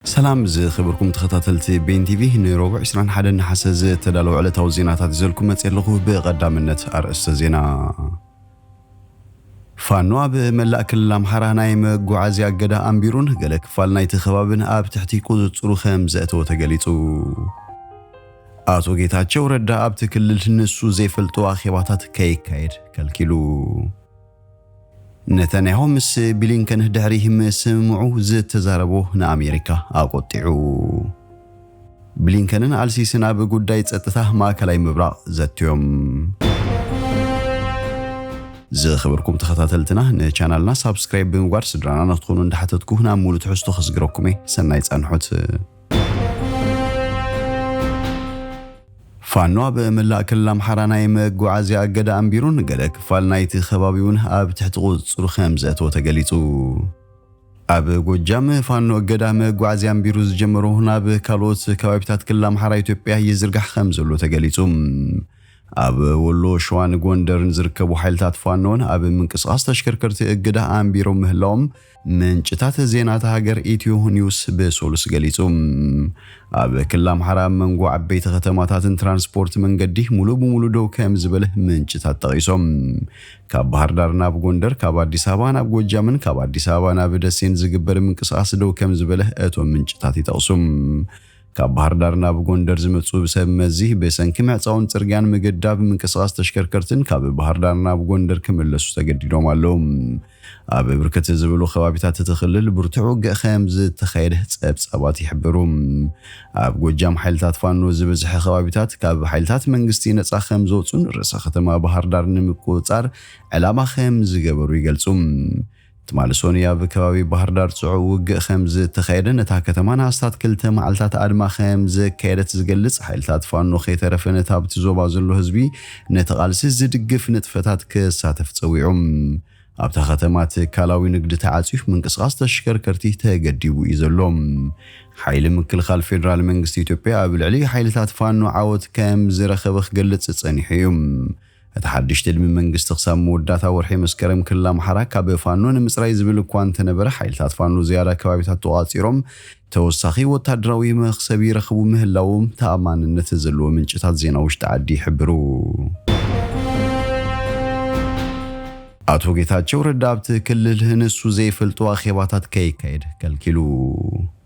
ሰላም ዝኸበርኩም ተኸታተልቲ ቤን ቲቪ ንሮቡዕ ዕስራን ሓደን ነሓሰ ዝተዳለወ ዕለታዊ ዜናታት ይዘልኩም መጽየ ኣለኹ። ብቐዳምነት ኣርእስተ ዜና ፋኖ ኣብ መላእ ክልል ኣምሓራ ናይ መጓዓዝያ እገዳ ኣንቢሩን ገለ ክፋል ናይቲ ከባብን ኣብ ትሕቲ ቁጽጽሩ ከም ዘእተወ ተገሊጹ። ኣቶ ጌታቸው ረዳ ኣብቲ ክልል ንሱ ዘይፈልጦ ኣኼባታት ከይካየድ ከልኪሉ። ነታንያሁ ምስ ብሊንከን ድሕሪ ምስምምዑ ዝተዛረቦ ንኣሜሪካ ኣቖጢዑ። ብሊንከንን ኣልሲሲን ኣብ ጉዳይ ጸጥታ ማእከላይ ምብራቕ ዘትዮም። ዝኸበርኩም ተኸታተልትና ንቻናልና ሳብስክራይብ ብምግባር ስድራና ንክትኾኑ እንዳሓተትኩ ናብ ሙሉ ትሕዝቶ ክስግረኩም'የ ሰናይ ጻንሖት። ፋኖ ኣብ መላእ ክልል ኣምሓራ ናይ መጓዓዝያ እገዳ ኣንቢሩን ገለ ክፋል ናይቲ ከባቢ'ውን ኣብ ትሕቲ ቁፅፅሩ ከምዘእተወ ተገሊፁ። ኣብ ጎጃም ፋኖ እገዳ መጓዓዝያ ኣንቢሩ ዝጀመሮ ናብ ካልኦት ከባቢታት ክልል ኣምሓራ ኢትዮጵያ ይዝርጋሕ ከምዘሎ ተገሊፁ። ኣብ ወሎ፣ ሸዋን ጎንደርን ዝርከቡ ሓይልታት ፋኖ'ውን ኣብ ምንቅስቓስ ተሽከርከርቲ እገዳ ኣንቢሮም ምህላዎም ምንጭታት ዜና እታ ሃገር ኢትዮ ኒውስ ብሶሉስ ገሊጹ። ኣብ ክልል ኣምሓራ ኣብ መንጎ ዓበይቲ ከተማታትን ትራንስፖርት መንገዲ ሙሉእ ብሙሉእ ደው ከምዝበለ ምንጭታት ጠቒሶም። ካብ ባህርዳር ናብ ጎንደር፣ ካብ ኣዲስ ኣበባ ናብ ጎጃምን ካብ ኣዲስ ኣበባ ናብ ደሴን ዝግበር ምንቅስቓስ ደው ከምዝበለ እቶም ምንጭታት ይጠቕሱ። ካብ ባህርዳር ናብ ጎንደር ዝመጽኡ ብሰብ መዚ ብሰንኪ ምዕጻውን ጽርግያን ምግዳብ ምንቅስቓስ ተሽከርከርትን ካብ ባህርዳር ናብ ጎንደር ክምለሱ ተገዲዶም ኣለዉ። ኣብ ብርክት ዝበሉ ከባቢታት እቲ ክልል ብርቱዕ ውግእ ከም ዝተኻየደ ጸብጻባት ይሕብሩ። ኣብ ጎጃም ሓይልታት ፋኖ ዝበዝሐ ከባቢታት ካብ ሓይልታት መንግስቲ ነጻ ከም ዘውጹን ርእሰ ከተማ ባህርዳር ንምቁጽጻር ዕላማ ከም ዝገበሩ ይገልጹ። ትማሊ ሶኑይ ኣብ ከባቢ ባህርዳር ጽዑቕ ውግእ ከም ዝተኻየደን እታ ከተማ ንኣስታት ክልተ መዓልታት ኣድማ ከም ዘካየደት ዝገልጽ፣ ሓይልታት ፋኖ ከይተረፈ ነቲ ኣብቲ ዞባ ዘሎ ህዝቢ ነቲ ቃልሲ ዝድግፍ ንጥፈታት ክሳተፍ ጸዊዑ። ኣብታ ከተማ ትካላዊ ንግዲ ተዓጽዩ፣ ምንቅስቓስ ተሽከርከርቲ ተገዲቡ እዩ ዘሎ። ሓይሊ ምክልኻል ፌደራል መንግስቲ ኢትዮጵያ ኣብ ልዕሊ ሓይልታት ፋኖ ዓወት ከም ዝረኸበ ክገልጽ ጸኒሑ እዩ። እቲ ሓድሽ ትልሚ መንግስቲ ክሳብ መወዳእታ ወርሒ መስከረም ክልል ኣምሓራ ካብ ፋኖ ንምፅራይ ዝብል እኳ እንተነበረ ሓይልታት ፋኖ ዝያዳ ከባቢታት ተቖፃፂሮም ተወሳኺ ወታደራዊ መኽሰብ ይረኽቡ ምህላዎም ተኣማንነት ዘለዎ ምንጭታት ዜና ውሽጢ ዓዲ ይሕብሩ። ኣቶ ጌታቸው ረዳ ኣብቲ ክልል ንሱ ዘይፈልጦ ኣኼባታት ከይካየድ ከልኪሉ።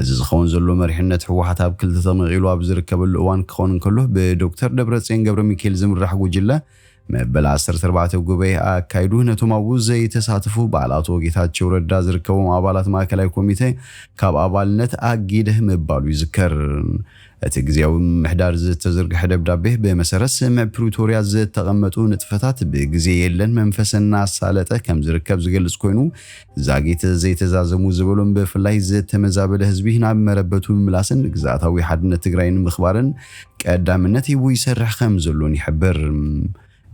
እዚ ዝኸውን ዘሎ መሪሕነት ህወሓት ኣብ ክልተ ተመቒሉ ኣብ ዝርከበሉ እዋን ክኾን እንከሎ ብዶክተር ደብረፅዮን ገብረሚካኤል ዝምራሕ ጉጅለ መበል ዓሰርተ ኣርባዕተ ጉባኤ ኣካይዱ ነቶም ኣብኡ ዘይተሳተፉ በዓል ኣቶ ጌታቸው ረዳ ዝርከቦም ኣባላት ማእከላይ ኮሚቴ ካብ ኣባልነት ኣጊደ ምባሉ ይዝከር። እቲ ግዝያዊ ምምሕዳር ዝተዘርግሐ ደብዳቤ ብመሰረት ስምምዕ ፕሪቶርያ ዝተቐመጡ ንጥፈታት ብግዜ የለን መንፈስ እናሳለጠ ከምዝርከብ ዝገልፅ ኮይኑ ዛጊት ዘይተዛዘሙ ዝበሎም ብፍላይ ዝተመዛበለ ህዝቢ ናብ መረበቱ ምምላስን ግዝኣታዊ ሓድነት ትግራይ ንምኽባርን ቀዳምነት ሂቡ ይሰርሕ ከምዘሎን ይሕብር።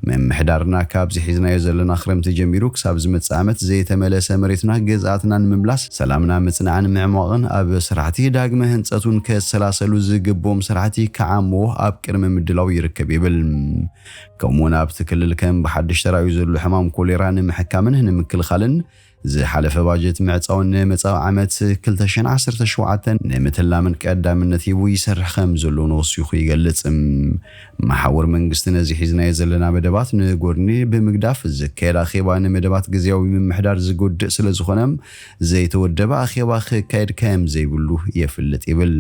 ምምሕዳርና ካብዚ ሒዝናዮ ዘለና ክረምቲ ጀሚሩ ክሳብ ዝመጽእ ዓመት ዘይተመለሰ መሬትና ገዝኣትና ንምምላስ ሰላምና ምጽናዕን ምዕሟቕን ኣብ ስራሕቲ ዳግመ ህንጸቱን ከሰላሰሉ ዝግብኦም ስራሕቲ ክዓምዎ ኣብ ቅድመ ምድላው ይርከብ ይብል። ከምኡ'ውን ኣብቲ ክልል ከም ብሓድሽ ተራእዩ ዘሎ ሕማም ኮሌራ ንምሕካምን ንምክልኻልን ዝሓለፈ ባጀት ምዕጻውን ንመጻኢ ዓመት ክልተ ሽሕን ዓሰርተ ሸውዓተን ንምትላምን ቀዳምነት ሂቡ ይሰርሕ ከምዘሎን ወሲኹ ይገልጽ። መሓውር መንግስቲ ነዚ ሒዝናዮ ዘለና መደባት ንጎድኒ ብምግዳፍ ዝካየድ ኣኼባ ንመደባት ግዝያዊ ምምሕዳር ዝጎድእ ስለዝኾነ ዘይተወደበ ኣኼባ ክካየድ ከምዘይብሉ የፍልጥ ይብል።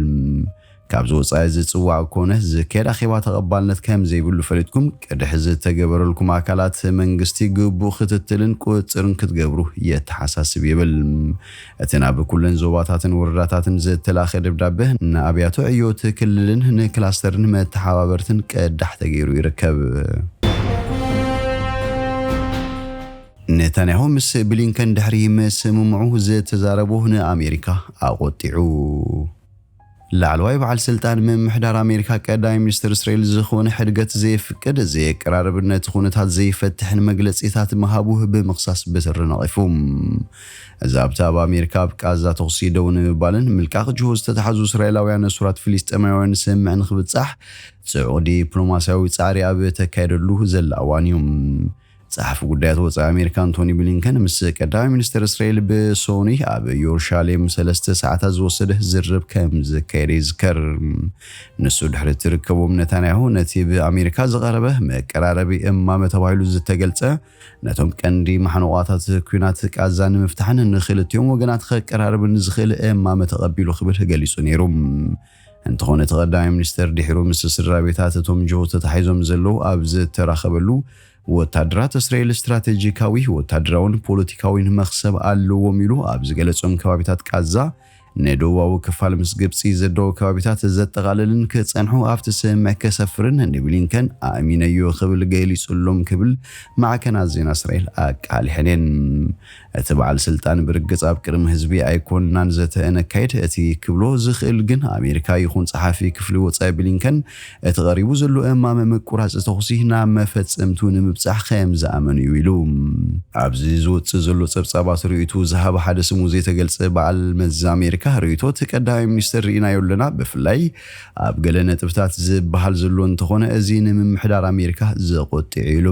ካብዚ ወጻኢ ዝጽዋዕ ኮነ ዝካየድ ኣኼባ ተቐባልነት ከም ዘይብሉ ፈሊጥኩም ቅድሕ ዝተገበረልኩም ኣካላት መንግስቲ ግቡእ ክትትልን ቁጽጽርን ክትገብሩ የተሓሳስብ ይብል እቲ ናብ ኩለን ዞባታትን ወረዳታትን ዝተላእከ ደብዳበ። ንኣብያተ ዕዮ'ቲ ክልልን ንክላስተርን መተሓባበርትን ቅዳሕ ተገይሩ ይርከብ። ኔታንያሁ ምስ ብሊንከን ድሕሪ ምስምምዑ ዝተዛረቦ ንኣሜሪካ ኣቖጢዑ። ላዕለዋይ በዓል ስልጣን ምምሕዳር ኣሜሪካ ቀዳማይ ሚኒስትር እስራኤል ዝኾነ ሕድገት ዘየፍቅድ፣ ዘየቀራርብን ነቲ ኩነታት ዘይፈትሕን መግለጺታት ምሃቡ ብምኽሳስ ብትሪ ነቒፉ። ዛብቲ ኣብ ኣሜሪካ ኣብ ቃዛ ተኹሲ ደው ንምባልን ምልቃቕ ጅሆ ዝተታሕዙ እስራኤላውያን እሱራት ፍልስጤማውያንን ስምምዕ ንኽብጻሕ ጽዑቕ ዲፕሎማስያዊ ጻዕሪ ኣብ እተካየደሉ ዘላ እዋን እዩ። ጸሓፊ ጉዳያት ወጻኢ ኣሜሪካ ኣንቶኒ ብሊንከን ምስ ቀዳማይ ሚኒስተር እስራኤል ብሶኑይ ኣብ ዮርሻሌም ሰለስተ ሰዓታት ዝወሰደ ዝርርብ ከም ዘካየደ ይዝከር። ንሱ ድሕሪ እቲ ርከቦም ነታንያሁ ነቲ ብኣሜሪካ ዝቐረበ መቀራረቢ እማመ ተባሂሉ ዝተገልጸ ነቶም ቀንዲ ማሕንቋታት ኲናት ቃዛ ንምፍታሕን ንክልቲኦም ወገናት ከቀራርብን ዝኽእል እማመ ተቐቢሉ ክብል ገሊጹ ነይሩ። እንተኾነ እቲ ቀዳማይ ሚኒስተር ድሒሩ ምስ ስድራቤታት እቶም ጅሆ ተታሒዞም ዘለዉ ኣብ ዝተራኸበሉ፣ ወታደራት እስራኤል ስትራተጂካዊ፣ ወታደራውን ፖለቲካዊን መኽሰብ ኣለዎም ኢሉ ኣብ ዝገለጾም ከባቢታት ቃዛ ንደቡባዊ ክፋል ምስ ግብጺ ዘዳዊ ከባቢታት ዘጠቓልልን ክጸንሑ ኣብቲ ስምምዕ ከሰፍርን ንብሊንከን ኣእሚነዮ ክብል ገሊጹሎም ክብል ማዕከናት ዜና እስራኤል ኣቃሊሐን እየን። እቲ በዓል ስልጣን ብርግጽ ኣብ ቅድሚ ህዝቢ ኣይኮንናን ዘተ እነካይድ፣ እቲ ክብሎ ዝኽእል ግን ኣሜሪካ ይኹን ጸሓፊ ክፍሊ ወጻኢ ብሊንከን እቲ ቀሪቡ ዘሎ እማመ ምቁራጽ ተኹሲ ናብ መፈጸምትኡ ንምብጻሕ ከም ዝኣመኑ እዩ ኢሉ። ኣብዚ ዝወጽእ ዘሎ ጸብጻባት ርእይትኡ ዝሃበ ሓደ ስሙ ዘይተገልጸ በዓል መዚ ኣሜሪካ ርእይቶ እቲ ቀዳማይ ሚኒስተር ርኢናዮ ኣለና፣ ብፍላይ ኣብ ገለ ነጥብታት ዝበሃል ዘሎ እንተኾነ እዚ ንምምሕዳር ኣሜሪካ ዘቖጢዕ'ዩ ኢሉ።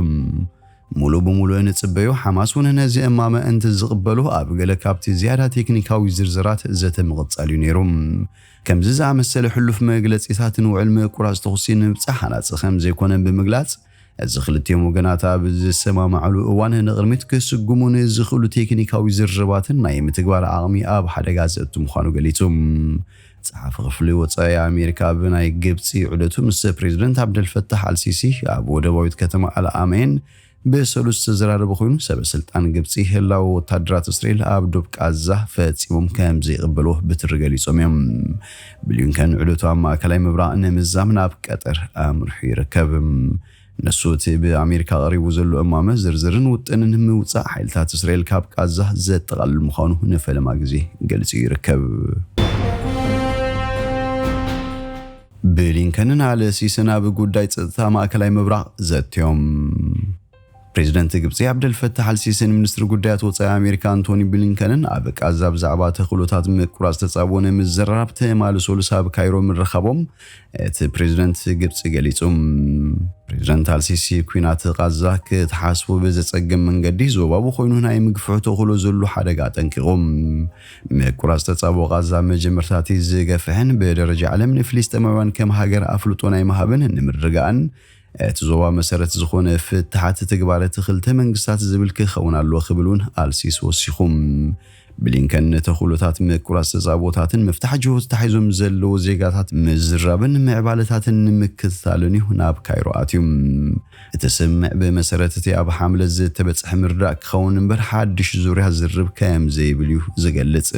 ሙሉእ ብሙሉእ ንጽበዮ፣ ሓማስ ውን ነዚ እማመ እንትዝቕበሎ ኣብ ገለ ካብቲ ዝያዳ ቴክኒካዊ ዝርዝራት ዘተ ምቕጻል እዩ ነይሩ። ከምዚ ዝኣመሰለ ሕሉፍ መግለጺታት ንውዕል ምቁራጽ ተኹሲ ንምብጻሕ ሃናጺ ከምዘይኮነ ብምግላጽ፣ እዚ ክልቲኦም ወገናት ኣብ ዝሰማማዕሉ እዋን ንቕድሚት ክስጉሙ ንዝኽእሉ ቴክኒካዊ ዝርርባትን ናይ ምትግባር ዓቕሚ ኣብ ሓደጋ ዘእቱ ምዃኑ ገሊጹ። ጸሓፊ ክፍሊ ወጻኢ ኣሜሪካ ኣብ ናይ ግብጺ ዑደቱ ምስ ፕሬዝደንት ዓብደልፈታሕ ኣልሲሲ ኣብ ወደባዊት ከተማ ኣልኣመይን ብሰሉስ ዝተዘራረበ ኮይኑ ሰበ ስልጣን ግብጺ ህላወ ወታደራት እስራኤል ኣብ ዶብ ቃዛ ፈጺሞም ከምዘይቕበልዎ ብትሪ ገሊጾም እዮም። ብሊንከን ዑደቱ ኣብ ማእከላይ ምብራቕ ንምዛም ናብ ቀጠር ኣምርሑ ይርከብ። ንሱ እቲ ብኣሜሪካ ቀሪቡ ዘሎ እማመ ዝርዝርን ውጥንን ምውጻእ ሓይልታት እስራኤል ካብ ቓዛ ዘጠቓልል ምዃኑ ንፈለማ ግዜ ገሊጹ ይርከብ። ብሊንከንን ኣልሲስን ኣብ ጉዳይ ጸጥታ ማእከላይ ምብራቕ ዘትዮም። ፕሬዚደንት ግብፂ ዓብደልፈታሕ ኣልሲሲን ሚኒስትሪ ጉዳያት ወፃኢ ኣሜሪካ ኣንቶኒ ብሊንከንን ኣብ ቃዛ ብዛዕባ ተኽእሎታት ምቁራፅ ተፃብኦ ንምዝርራብ ትማሊ ሰሉስ ኣብ ካይሮ ምርኻቦም እቲ ፕሬዝደንት ግብፂ ገሊፁ። ፕሬዝደንት ኣልሲሲ ኲናት ቓዛ ክትሓስቡ ብዘፀግም መንገዲ ዞባዊ ኮይኑ ናይ ምግፍሑ ተኽእሎ ዘሉ ሓደጋ ኣጠንቂቑ። ምቁራፅ ተፃብኦ ቓዛ መጀመርታ እቲ ዝገፍሕን ብደረጃ ዓለም ንፍሊስጤማውያን ከም ሃገር ኣፍልጦ ናይ ምሃብን ንምርግጋእን እቲ ዞባ መሰረት ዝኾነ ፍታሓት ትግባረ እቲ ክልተ መንግስታት ዝብል ክኸውን ኣለዎ ክብል እውን ኣልሲሲ ወሲኹ። ብሊንከን ንተኽእሎታት ምቁራጽ ተጻብኦታትን ምፍታሕ ጅሆ ተታሒዞም ዘለዉ ዜጋታት ምዝራብን ምዕባለታትን ንምክትታልን እዩ ናብ ካይሮ ኣትዩ። እቲ ስምምዕ ብመሰረት እቲ ኣብ ሓምለ ዝተበጽሐ ምርዳእ ክኸውን እምበር ሓድሽ ዙርያ ዝርርብ ከምዘይብል እዩ ዝገልጽ።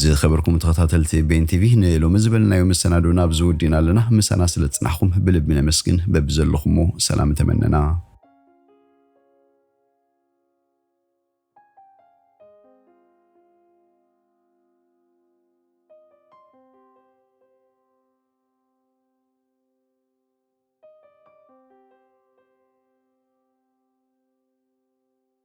ዝከበርኩም ተኸታተልቲ ቤን ቲቪ ንሎሚ ዝበልናዮ መሰናዶ ናብዚ ወዲእና ኣለና። ምሳና ስለ ዝጽናሕኩም ብልቢ ነመስግን። በብዘለኹሞ ሰላም ተመነና።